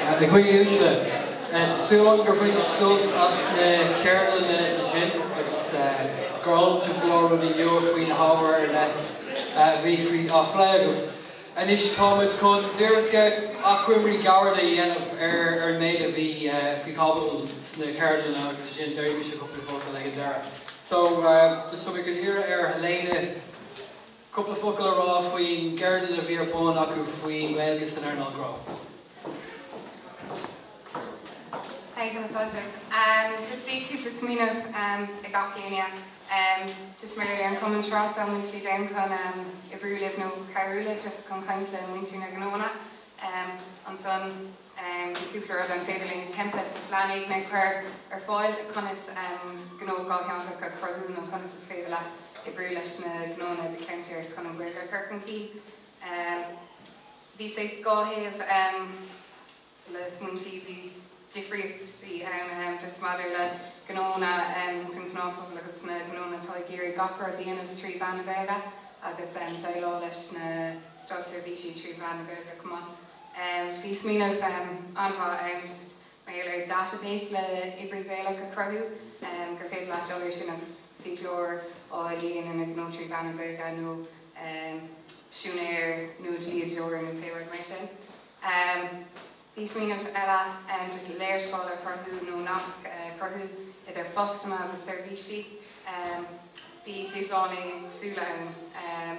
A dhaoine uaisle, tá súil agam gur bhain sibh sult as na ceardlanna ansin agus gur fhoghlaim sibh go leor rudaí nua faoi na hábhair ar leith a bhí á phlé agaibh. Anois táimid chun díreach achoimrí gairid a dhéanamh ar an méid a bhí faoi chaibidil sna ceardlanna agus ansin déarfaidh mise cúpla focal ag an deireadh. So, is dóigh liom iarraidh ar Helena. Cúpla focal a rá faoin gceardlann a bhí ar bun acu faoi Ghaeilge san earnáil ghnó. Thank you a Sheosaimh. Umm just bhí cúpla smaoineamh umm ag gach éinne umm just mar gheall ar an gcumann tráchtála úsáid a bhaint astu san chun umm oibriú libh nó cabhrú libh just chun caint le muintir na ngnóanna umm ansan. Bhí cúpla rud an féidir linn templates nó plean éigin a chur ar fáil conas gnó dátheangach a chruthú nó conas is féidir leat oibriú leis na gnóanna i do cheantar chun an Ghaeilge a chur chun cinn. Bhí saghas dhá thaobh le smaointí bhí difríochtaí ann just maidir le gnóanna sa ghnáthphobal agus na gnóanna atá ag iarraidh gach rud a dhéanamh trí mheán na Gaeilge agus déileáil leis na stáitseirbhísí trí mheán na Gaeilge chomh maith. Bhí smaoineamh an-mhaith ann just mar gheall ar database le oibrithe Gaeilge a chruthú gur féidir leat dul ar sin agus fiaclóir a dhéanann a ghnó trí mheán na Gaeilge nó siúinéir nó dlíodóir nó pé rud mar sin. Bhí smaoineamh eile ann just léirscáil a chruthú nó nasc a chruthú idir fostóirí agus seirbhísí. Bhí dúshláin éagsúla ann.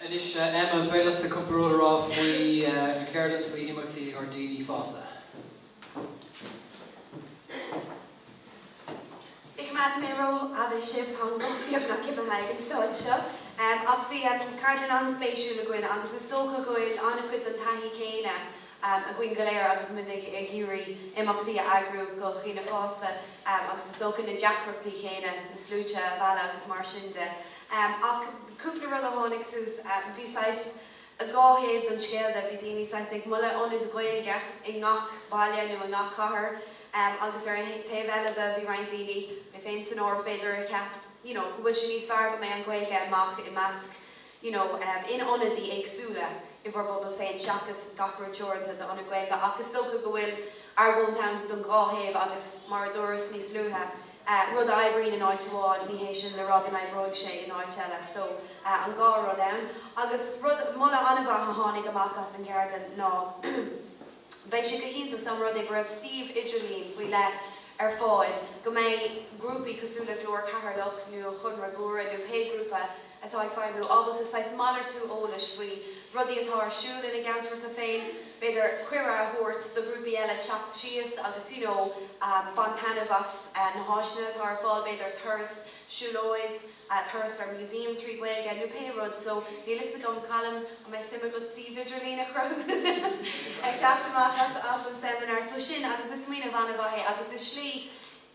Anois Emma, an féidir leatsa cúpla rud a rá faoin gceardlann faoi imeachtaí do dhaoine fásta? Ní choimeádfaidh mé ró-fhada sibh, tá an guth beagnach imithe ag an stáid seo, ach bhí ceardlann an-spéisiúil againn agus is dócha go bhfuil an-chuid den taithí chéanna againn go léir agus muid ag iarraidh imeachtaí a eagrú do dhaoine fásta agus is dócha na deacrachtaí céanna, na sluaite a mhealladh agus mar sin de. Ach cúpla rud a tháinig suas, bhí saghas dhá thaobh don scéal de, bhí daoine saghas ag moladh ionad Gaeilge i ngach baile nó i ngach cathair agus ar an taobh eile de bhí roinnt daoine, mé féin san áireamh b'fhéidir, a cheap you know go bhfuil sé níos fearr go mbeidh an Ghaeilge amach i measc you know in ionadaí éagsúla i bhur bpobal féin seachas gach rud teoranta do ionad Gaeilge ach is dócha go bhfuil argóint ann don dhá thaobh agus mar a dúras níos luaithe, rud a oibríonn in áit amháin ní hé sin le rá go n-oibreoidh sé in áit eile so an dhá rud ann agus rud, moladh an-mhaith a tháinig amach as an gceardlann ná beidh sé go hiontach dá mba rud é go raibh suíomh idirlín faoi leith ar fáil go mbeidh grúpaí cosúil le Glór Cheatharlach nó Gaeilge Locha Riach nó pé grúpa atá ag feidhmiú, ábalta saghas malartú eolais faoi rudaí atá ar siúl ina gceantracha féin, b'fhéidir cuireadh a thabhairt do ghrúpaí eile teacht síos agus you know bain taitneamh as na háiseanna atá ar fáil, b'fhéidir turas siúlóid, turas ar museum trí Ghaeilge nó pé rud. So níl fhios agam Colm an mbeadh suim agat suíomh idirlín a chruthú ag teacht amach as an seminar seo so sin agus is smaoineamh ana-mhaith é agus is slí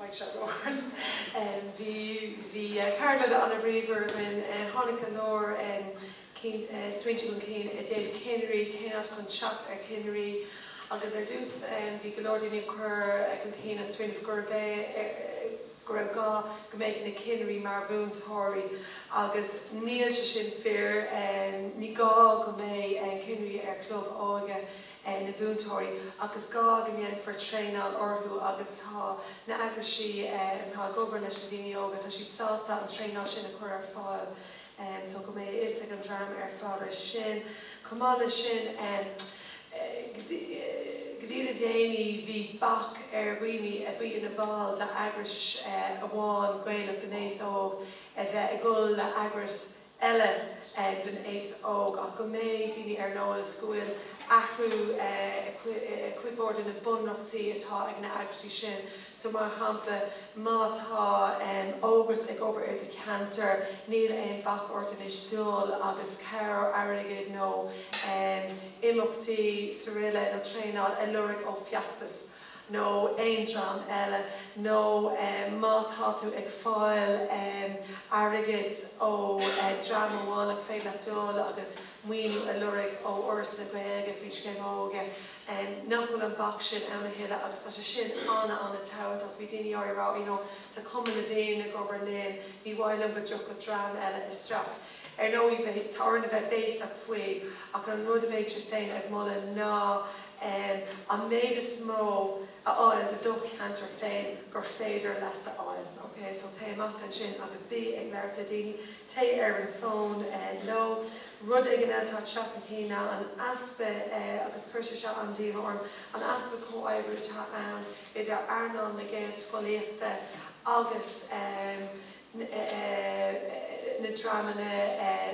Beidh sé go hard. Bhí bhí ceardlanna ana-bhríomhar againn. Tháinig go leor smaointe chun cinn i dtaobh cinnirí, cén áit chun teacht ar chinnirí agus ar dtús bhí go leor daoine ag cur chun cinn an smaoineamh gurb é go raibh gá go mbeadh na cinnirí mar mhúinteoirí agus níl sé sin fíor. Ní gá go mbeadh cinnirí ar chlub óige. ina múinteoirí ach is gá go ndéanfar traenáil orthu agus tá na eagraisí atá ag obair leis na daoine óga, tá siad sásta an traenáil sin a chur ar fáil so go mbeidh a fhios ag an dream ar fad ar sin. Chomh maith leis sin go dtí le déanaí bhí bac ar dhaoine a bhí ina bhall d'eagrais amháin Gaelach don aos óg, a bheith ag dul le eagras eile don aos óg ach go mbeidh daoine ar an eolas go bhfuil athrú i gcuid mhór de na bunreachtaí atá ag na eagraisí sin. So mar shampla má tá Ógras ag obair i do cheantar níl aon bac ort anois dul agus cabhair airgid nó imeachtaí srl nó traenáil a lorg ó Fheachtas. nó aon dream eile, nó má tá tú ag fáil airgid ó dhream amháin nach féidir leat dul agus maoiniú a lorg ó Fhoras na Gaeilge faoin Scéim Óige, nach bhfuil an bac sin ann a thuilleadh agus tá sé sin ana, an-tábhachtach. Bhí daoine á rá you know tá Cumann na bhFiann ag obair linn, níor mhaith linn go dtiocfadh dream eile isteach. Ar ndóigh beidh orainn a bheith béasach faoi ach an rud a bheadh sinn féin ag moladh ná an méid is mó a fháil do do cheantar féin gur féidir leat a fháil. Ok, so téigh amach ansin agus bí ag labhairt le daoine, téigh ar an bhfón leo. Rud éigin eile atá ag teacht chun cinn ná an easpa, agus chuir sé seo an-díomá orm, an easpa comhoibriú atá ann idir earnáil na Gaelscolaíochta agus, na dreamanna,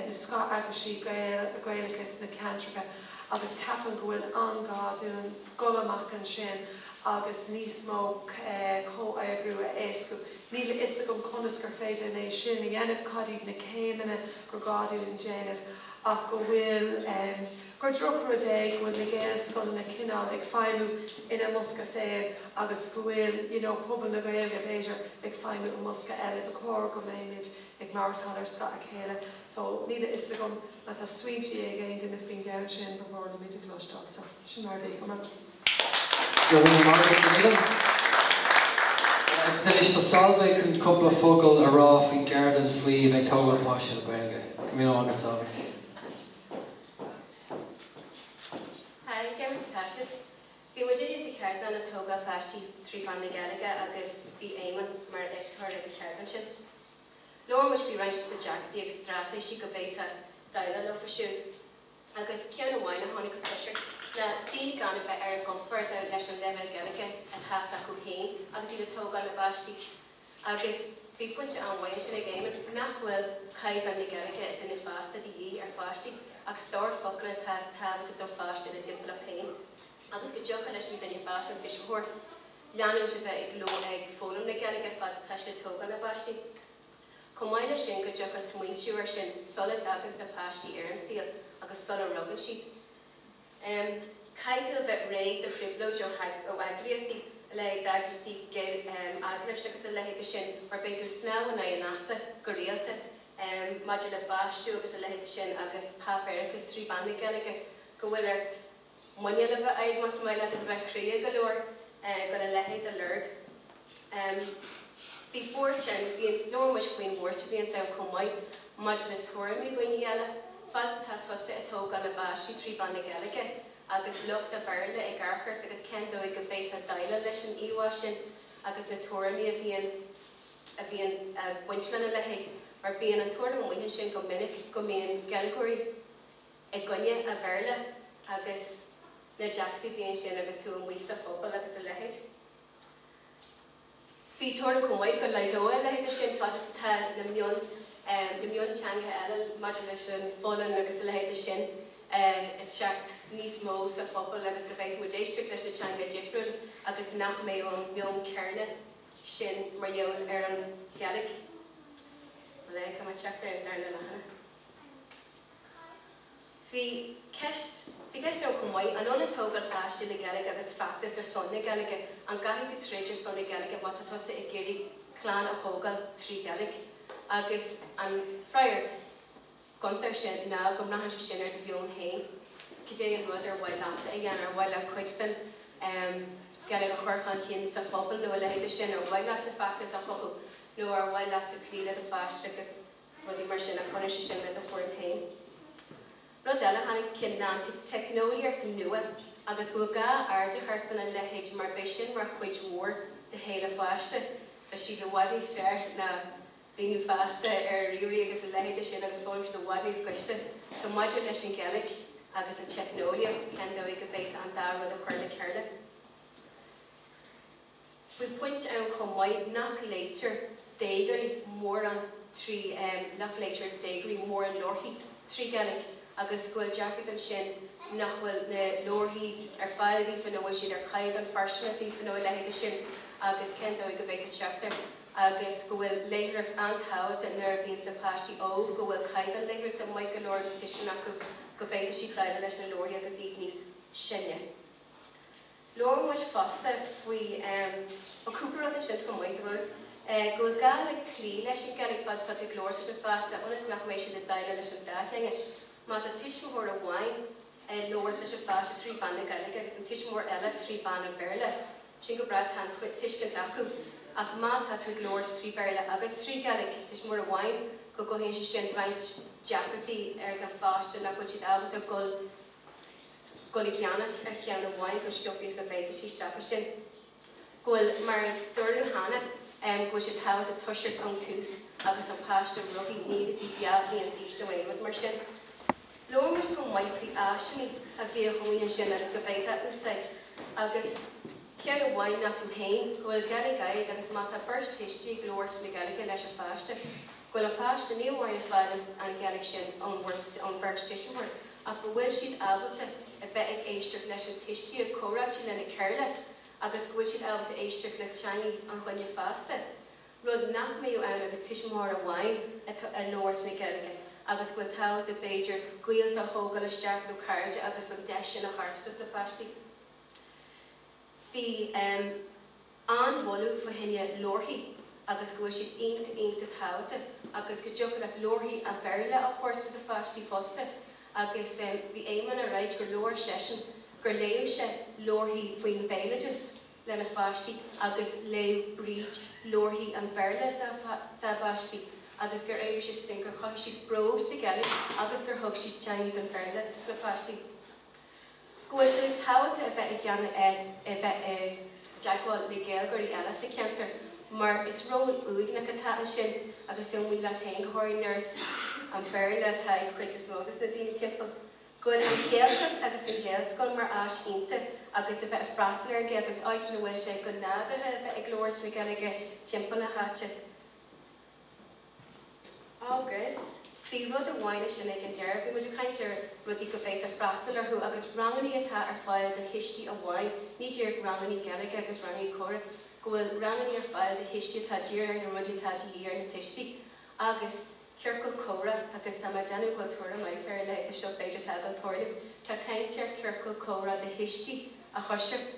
na scoth-eagraisí Gaelacha sna ceantracha agus ceapaim go bhfuil an-ghá dúinn dhul amach ansin agus níos mó comhoibriú a éascú. Níl a fhios agam conas gur féidir linn é sin a dhéanamh, cad iad na céimeanna gur ghá dúinn déanamh ach go bhfuil, gur droch rud é go bhfuil na Gaelscoileanna cineál ag feidhmiú ina mbosca féin agus go bhfuil you know pobal na Gaeilge b'fhéidir ag feidhmiú i mbosca eile ba chóir go mbeimid ag maireachtáil ar scáth a chéile so níl a fhios agam má tá smaointí ag aon duine faoin gceann sin ba mhór linn iad a chloisteáil so sin mar bhí San is do salve chun cúpla focal a rá faoin gceardlann faoi bheith tógáil páistí le Gaeilge. Go mí agus tá. Hi, déarfainn sa Taisil. Bhí muid uilig sa cheardlann ag tógáil páistí trí mheán na Gaeilge agus bhí Éamonn mar éascaitheoir ag an cheardlann sin. Labhair muid faoi roinnt de na deacrachtaí agus straitéisí go bhféadfá déileáil leofa siúd agus ceann amháin a tháinig chun tosaigh ná daoine gan a bheith ar a gcompord leis an leibhéal Gaeilge atá s'acu féin agus iad ag tógáil a bpáistí. Agus bhí pointe an-mhaith ansin ag Éamonn. Nach bhfuil caighdeán na Gaeilge an duine fásta de dhíth ar pháistí, agus stór focal atá tábhachtach don pháiste ina dtimpeallacht féin. Agus go dtiocfadh leis an duine fásta, an tuismitheoir, leanúint de bheith ag dul ag foghlaim na Gaeilge fad is atá siad ag tógáil a bpáistí. Chomh maith leis sin, go dtiocfadh smaointiú air sin sula dtaganns na páistí ar an saol agus sula rugann siad. Caithfidh tú a bheith réidh do thrioblóid ó eagraíochtaí, a leithéid d'eagraíochtaí eaglais agus a leithéid de sin, mar beidh tú ag snámh in aghaidh an easa go rialta maidir le baistiú agus a leithéid de sin agus páipéarachas trí mheán na Gaeilge go bhfuil ort muineál a bheith agat más maith leat a bheith cróga go leor chun a leithéid a lorg. Bhí buairt ann, labhair muid faoin bhuairt a bhíonns ann chomh maith maidir le tuairimí daoine eile, fad 's atá tusa ag tógáil na bpáistí trí mheán na Gaeilge agus lucht an Bhéarla ag amharc ort agus cén dóigh go bhféadfá déileáil leis an íomhá sin agus na tuairimí a bhíonn ag baint lena leithéid mar bíonn an tuairim amuigh ansin go minic go mbíonn Gaeilgeoirí i gcoinne an Bhéarla agus na deacrachtaí a bhíonn ansin agus tú amuigh sa phobal agus a leithéid. Bhí tuairim chomh maith go laghdóidh a leithéid de sin fad is atá na mion na mionteangacha eile maidir leis an Pholainnis agus a leithéid de sin ag teacht níos mó sa phobal agus go bhféadfadh muid éisteacht leis na teanga difriúil agus nach mbeadh an meon céarna sin mar gheall ar an Ghaeilge. Lig dom teacht ar an darna leathanach? Bhí ceist Bhí ceist agam chomh maith, an ionann tógáil páistí le Gaeilge agus feachtas ar son na Gaeilge? An gcaithfidh tú troid ar son na Gaeilge má tá tusa ag iarraidh clann a thógáil trí Ghaeilge? Agus an freagra gonta ar sin ná go mbraitheann sé sin ar do mheon féin, cad é an rud ar mhaith leatsa a dhéanamh, ar mhaith leat cuid den ehm Ghaeilge a chur chun cinn sa phobal nó a leithéid de sin, ar mhaith leatsa feachtas a chothú nó ar mhaith leatsa cloí le do pháiste agus rudaí mar sin, ach baineann sé sin le do chúram féin. Rud eile, tháinig chun cinn ná an teicneolaíocht nua agus go bhfuil gá aird a thabhairt ar a leithéid mar beidh sin mar chuid mhór de shaol an pháiste. Tá siad i bhfad níos fearr ná daoine fásta ar ríomhairí agus a leithéid de sin agus foghlaimíonn siad i bhfad níos gaiste. So maidir leis an nGaeilg agus an teicneolaíocht, cén dóigh a bhféadfá an dá rud a chur le chéile? Bhí pointe ann chomh maith nach léitear déagóirí mórán trí nach léitear déagóirí mórán leabharthaí trí Gaeilg agus go bhfuil deacracht ansin nach bhfuil na leabharthaí ar fáil daofa nó bhfuil siad ar chaighdeán fóirsteanach daofa nó a leithéide sin agus cén dóigh go bhféadfá teacht air agus go bhfuil léitheoireacht an-tábhachtach nuair a bhíonns na páistí óg go bhfuil caighdeán léitheoireachta maith go leor de tuiscint acu go bhféadfadh siad déileáil leis na leabharthaí agus iad níos sine. Labhair muid fosta faoi an cúpla rud a dtiocfadh amuigh de bharr go bhfuil gá le cloí leis an Ghaeilge fad is atá tú ag labhairt leis an pháiste ionas nach mbeidh siad ag déileáil leis an dá theanga. Má tá tuismitheoir amháin ag labhairt leis an pháiste trí mheán na Gaeilge agus an tuismitheoir eile trí mheán an Bhéarla, sin go breá, tá an tuiscint acu, ach má tá tú ag labhairt trí Bhéarla agus trí Ghaeilge tuismitheoir amháin go gcothaíonn sé sin roinnt deacrachtaí ag an pháiste nach bhfuil siad ábalta dul dul i gceannas ar cheann amháin chomh sciobtha is go bhféadfadh siad teacht as sin. Go bhfuil, mar a dúradh cheana, go bhfuil sé tábhachtach toiseacht ón tús agus an páiste rugtha ní agus í dhá bhliain d'aois nó aon rud mar sin. Labhair muid chomh maith faoi áiseanna a bhíodh amuigh ansin agus go bhféadfá úsáid agus ceann amháin ná tú féin go bhfuil Gaeilge agat agus má tá beirt thuistí ag labhairt na Gaeilge leis an pháiste go bhfuil an páiste ní amháin ag fáil an Ghaeilge sin ón bheirt tuismitheoirí ach go bhfuil siad ábalta a bheith ag éisteacht leis na tuistí ag comhráití lena chéile agus go bhfuil siad ábalta éisteacht le teangaidh an dhuine fásta, rud nach mbeadh ann agus tuismitheoir amháin ag labhairt na Gaeilge agus go bhfuil tábhachtach b'fhéidir gaolta a thógáil isteach nó cairde agus an deis sin a thabhairt dos na páistí. Bhí. an-mholadh fá choinne leabharthaí agus go bhfuil siad iontach, iontach tábhachtach agus go dtiocfadh leat leabharthaí an Bhéarla a thabhairt do do pháistí fosta agus bhí Éamonn a' ráidht gur labhair seisean, gur léadh sé leabharthaí faoin bhéaloideas lena pháistí agus léadh Bríd leabharthaí an Bhéarla dá bpáistí agus gur éirigh sé sin, gur chuir siad bród sa Ghaeilge agus gur thug siad teangaidh an Bhéarla dos na páistí. go bhfuil sé tábhachtach a bheith i gceann a bheith i dteagmháil le Gaeilgeoirí eile sa cheantar mar is ról uaigneach atá ansin agus tú amuigh leat féin go háirithe nuair is an Béarla atá ag an chuid is mó dos na daoine timpeall go bhfuil an Ghaeltacht agus an Ghaelscoil mar áis iontach agus a bheith ag freastal ar an Ghaeltacht áit ina bhfuil sé go nádúrtha a bheith ag labhairt na Gaeilge timpeall na háite. Agus bhí rud amháin ansin ag an deireadh, bhí muid ag caint ar rudaí go bhféadtar freastal orthu agus rangannaí atá ar fáil do thuistí amháin, ní díreach rangannaí Gaeilge agus rangannaí comhrá, go bhfuil rangannaí ar fáil do thuistí atá dírithe ar na rudaí atá de dhíth ar na tuistí agus ciorcal comhrá agus tá mé ag déanamh go bhfuil tuairim a'int ar a leithéid de seo b'fhéidir tá ag an tOrlip, tá caint ar ciorcal comhrá do thuistí a thoiseacht.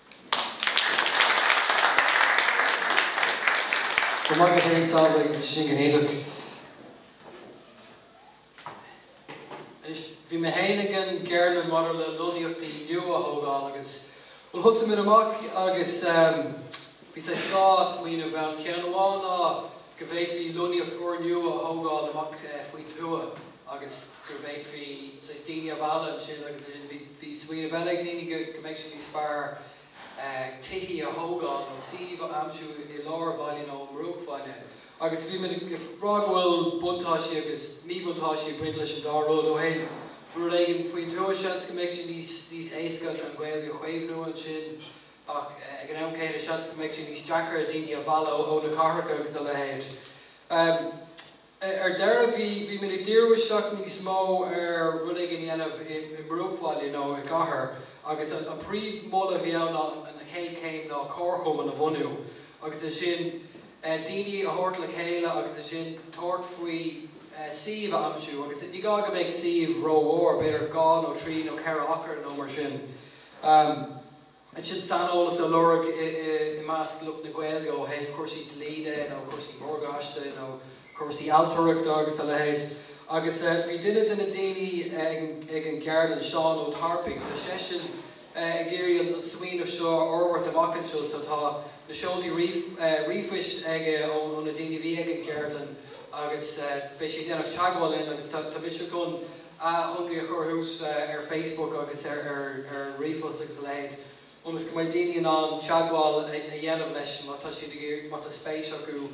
Go maith, go hiontach, is maith liom sin, go hiontach. Anois, bhí mé féin ag an gceardlann maidir le lonnaíochtaí nua a thógáil agus bhuel thosaigh muid amach agus ehm, bhí saghas dhá smaoineamh ann. Ceann amháin ná go bhféadfaí lonnaíocht úrnua a thógáil amach eh, faoin tuath. agus go bhféadfaí saghas daoine a mhealladh ansin agus ansin bhí bhí smaoineamh eile ag daoine go go mbeadh sé níos fearr tithe a thógáil nó suímh a aimsiú i lár bhaile nó i mbruachbhaile agus bhí muid ag rá go bhfuil buntáistí agus míbhuntáistí ag baint leis an dá rud ó thaobh rud éigin faoin tuath seans go mbeadh sé níos níos éasca an Ghaeilge a chaomhnú ansin ach ag an am céanna seans go mbeadh sé níos deacra daoine a mhealladh ó na cathracha agus a leithéid. Ar deireadh bhí bhí muid ag díriú isteach níos mó ar rud éigin a dhéanamh i mbruachbhaile nó i gcathair agus an príomh moladh a bhí ann ná an chéad chéim ná comharchumann a bhunú agus ansin daoine a thabhairt le chéile agus ansin tabhairt faoi suíomh a aimsiú agus ní gá go mbeadh suíomh ró mhór, b'fhéidir dhá nó trí nó ceithre acra nó mar sin. ansin saineolas a lorg i measc lucht na Gaeilge ó thaobh cúrsaí dlí de nó cúrsaí morgáiste nó cúrsaí ailtireachta agus a leithéid agus bhí duine de na daoine ag an gceardlann, Seán Ó Tarpaigh, tá seisean ag iarraidh an smaoineamh seo a fhorbairt amach anseo so tá na seoltaí ríomhphoist aige ó na daoine a bhí ag an gceardlann agus beidh sé ag déanamh teagmháil linn agus tá mise chun achoimre a chur thuas ar Facebook agus ar ríomhphost agus a leithéid ionas go mbeidh daoine in ann teagmháil a dhéanamh leis má tá siad ag iarraidh, má tá spéis acu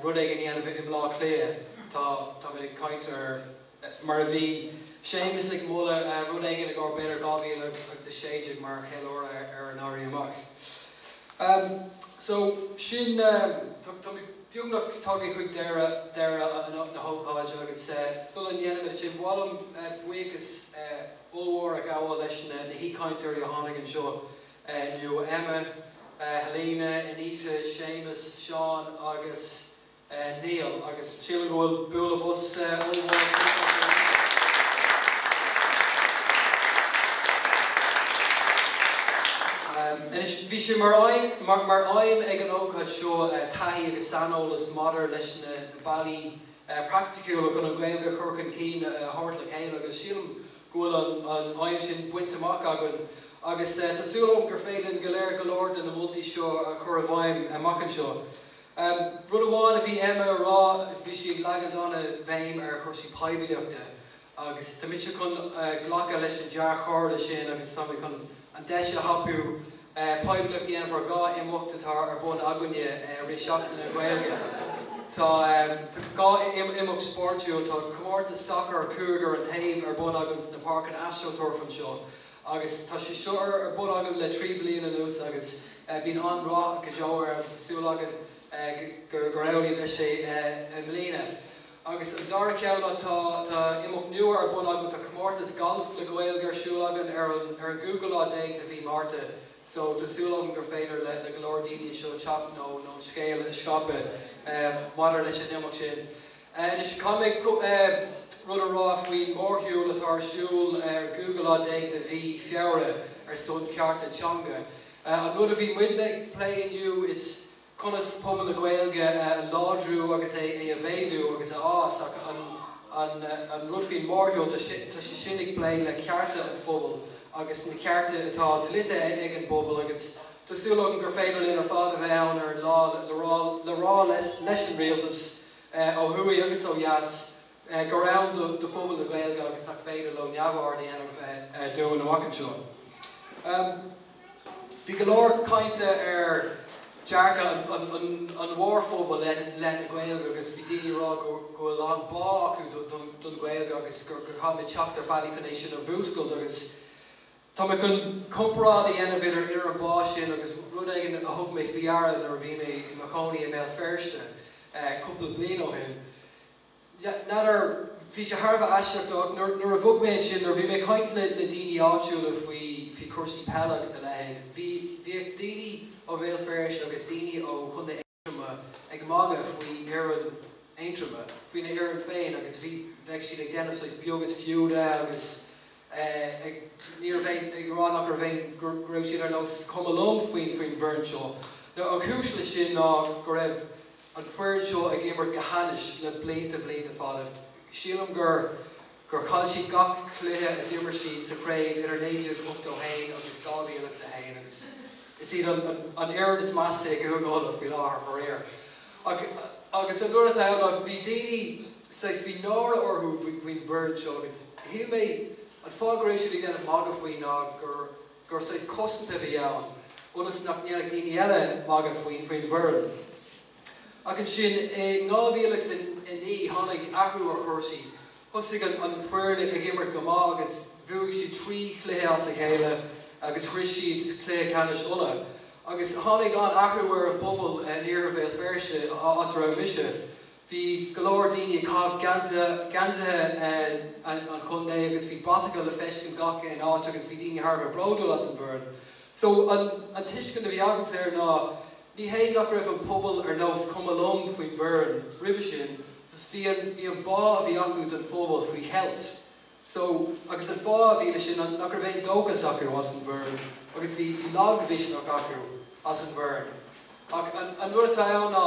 rud éigin a dhéanamh i mBleá Cliath. Tá, tá muid ag caint ar, mar a bhí Séamus ag moladh rud éigin i gcomhair b'fhéidir 2016 mar cheiliúradh ar an Éirí Amach. So sin, táimid. Beagnach tagtha chuig deireadh na hócáide agus sula ndéanaimid sin, ba mhaith liom buíochas ollmhór a ghabháil leis na haoichainteoirí a tháinig anseo inniu, Emma, Helena, Anita, Séamus, Seán agus Niall agus sílim go bhfuil bualadh bos ollmhór ag teacht acu anois. Anois, bhí sé mar aidhm ag an ócáid seo taithí agus saineolas maidir leis na bealaí praiticiúla chun an Ghaeilge a chur chun cinn a thabhairt le chéile agus sílim go bhfuil an aidhm sin bainte amach againn agus tá súil agam gur féidir linn go léir go leor de na moltaí seo a chur i bhfeidhm amach anseo. Rud amháin a bhí Emma a rá, bhí sí ag leagan an-bhéim ar chúrsaí poiblíochta agus tá mise chun glacadh leis an dea-chomhairle sin agus tá mé chun an deis a thapú poiblíocht a dhéanamh ar dhá imeacht atá ar bun againne i rith Seachtain na Gaeilge. Tá dhá imeacht spóirtiúil, tá comórtas sacair cúigear an taobh ar bun againn sna páirceanna astroturf anseo agus tá sé seo ar bun againn le trí bliana anuas agus bíonn an-rath go deo air agus tá súil againn gur amhlaidh a bheas sé i mbliana. Agus an dara ceann ná tá imeacht nua ar bun againn, tá comórtas Galf le Gaeilge ar siúl againn ar an ar an gcúigiú lá déag de mhí Márta so tá súil agam gur féidir le le go leor daoine anseo teacht nó nó an scéal a scaipeadh maidir leis an imeacht sin. Anois caithfidh mé cúpla rud a rá faoin mórshiúl atá ar siúl ar an gcúigiú lá déag de mhí Feabhra ar son cearta teanga. An rud a bhí muidne ag plé inniu is. conas pobal na Gaeilge a láidriú agus é a mhéadú agus a fhás ach an rud faoin mórshiúl, tá sé sin ag plé le cearta an phobail agus na cearta atá dlite ag an bpobal agus tá súil agam gur féidir linn ar fad a bheith ann ar an lá le rá leis an rialtas ó thuaidh agus ó dheas gur ann do phobal na Gaeilge agus nach féidir leo neamhaird a dhéanamh dínn amach anseo. Bhí go leor cainte ar dearcadh an mhórphobail i leith na Gaeilge agus bhí daoine ag rá go bhfuil a lán bá acu don Ghaeilge agus go gcaithfimid teacht ar bhealaí chun é sin a mhúscailt agus tá mé chun comparáid a dhéanamh idir an bá sin agus rud éigin a thug mé faoi deara nuair a bhí mé i mo chónaí i mBéal Feirste cúpla bliain ó shin. N'fheadar, bhí sé thar a bheith aisteach, nuair a bhog mé ansin, nuair a bhí mé ag caint le daoine áitiúla faoi, faoi chúrsaí peile agus a leithéid, bhí, bhíodh daoine ó Bhéal Feirste agus daoine ó Chontae Aontroma ag magadh faoi fhoireann Aontroma, faoina bhfoireann féin agus bhí, bheadh siad ag déanamh saghas beag is fiú di agus eh ag, ní raibh aon, ag rá nach raibh aon, go raibh siad ar nós cuma liom faoin, faoin bhfoireann seo. An chúis leis sin ná go raibh. an foireann seo ag imirt go hainnis le blianta blianta fada. Sílim gur gur chaill siad gach cluiche a d'imir siad sa chraobh idir 1981 agus 2001 agus is iad an an fhoireann is measa i gCúige Uladh faoi láthair, faraor. Ach agus an uair atá ann bhí daoine saghas bhí náire orthu faoin bhfoireann seo agus shíl mé an fáth go raibh siad ag déanamh magadh faoi ná gur gur sás cosanta a bhí ann ionas nach ndéanfadh daoine eile magadh faoin bhfoireann. Ach ansin i ndhá mhíle agus a naoi tháinig athrú ar chúrsaí. Thosaigh an foireann ag imirt go maith agus bhuaigh siad trí chluiche as a chéile agus shrois siad cluiche ceannais Uladh. Agus tháinig an-athrú ar an bpobal in iarthar Bhéal Feirste, áit a raibh mise. Bhí go leor daoine ag caitheamh geansaithe an chontae agus bhí bratacha le feiscint gach aon áit agus bhí daoine thar a bheith bródúil as an bhfoireann. So an tuiscint a bhí agamsa air ná ní hé nach raibh an pobal ar nós cuma liom faoin bhfoireann roimhe sin, just bhí an bhí an bá a bhí acu don phobal faoi cheilt. So, agus an fáth a bhí le sin nach raibh aon dóchas acu as an bhfoireann agus bhí, bhí lagmhisneach acu as an bhfoireann. Ach an, an rud atá ann ná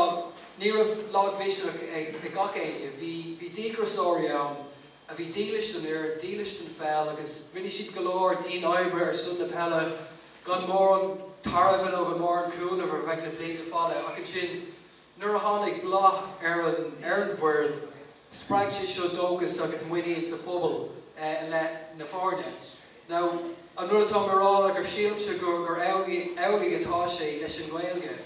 ní raibh lagmhisneach ag, ag gach éinne. Bhí, bhí díograiseoirí ann a bhí dílis don fhoireann, dílis don pheil agus rinne siad go leor dian-oibre ar son na peile gan mórán tairbhe nó gan mórán cúnaimh ar feadh na blianta fada ach ansin, Nuair a tháinig bláth ar an ar an bhfoireann, spreag sé seo dóchas agus muinín sa phobal i leith na foirne. Now, an rud atá mé a rá ná gur sílimse gur gur amhlaidh amhlaidh atá sé leis an nGaeilge,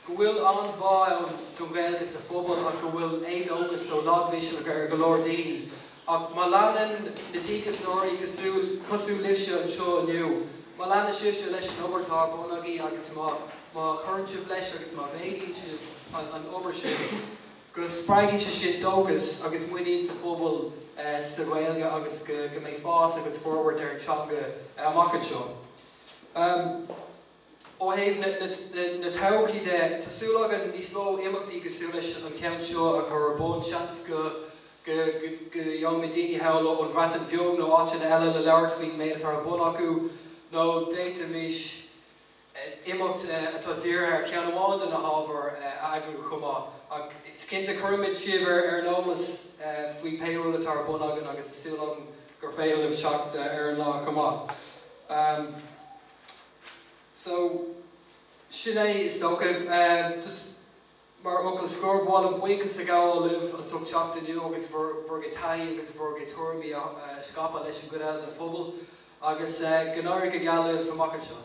go bhfuil an-bhá ann don Ghaeilge sa phobal ach go bhfuil éadóchas nó lagmhisneach ar go leor daoine. Ach má leanann na díograiseoirí cosúil libhse anseo inniu, má leanann sibhse leis an obair atá ar bun agaibh agus má chuireann sibh leis agus má mhéadaíonn sibh an obair sin, go spreagfaidh sé sin dóchas agus muinín sa phobal sa Ghaeilge agus go mbeidh fás agus forbairt ar an teanga amach anseo. Ó thaobh na todhchaí de, tá súil againn níos mó imeachtaí cosúil leis an cheann seo a chur ar bun. Seans go go ngeobhaimid daoine thall ón Bhreatain Bheag nó áiteanna eile le labhairt faoin méid atá ar bun acu, nó d'fhéadfaimis imeacht atá dírithe ar cheann amháin de na hábhair a eagrú chomh maith. Agus cinnte, cuirfimid sibh ar an eolas faoi pé rud atá ar bun againn agus tá súil agam gur féidir libh teacht ar an lá chomh maith. So, sin é is dócha. Just mar fhocal scoir, mh'anam, buíochas a ghabháil libh as ucht teacht inniu agus bhur bhur gcuid taithí agus bhur gcuid tuairimí a scaipeadh leis an gcuid eile den phobal. Agus go n-éirí go geal libh amach anseo.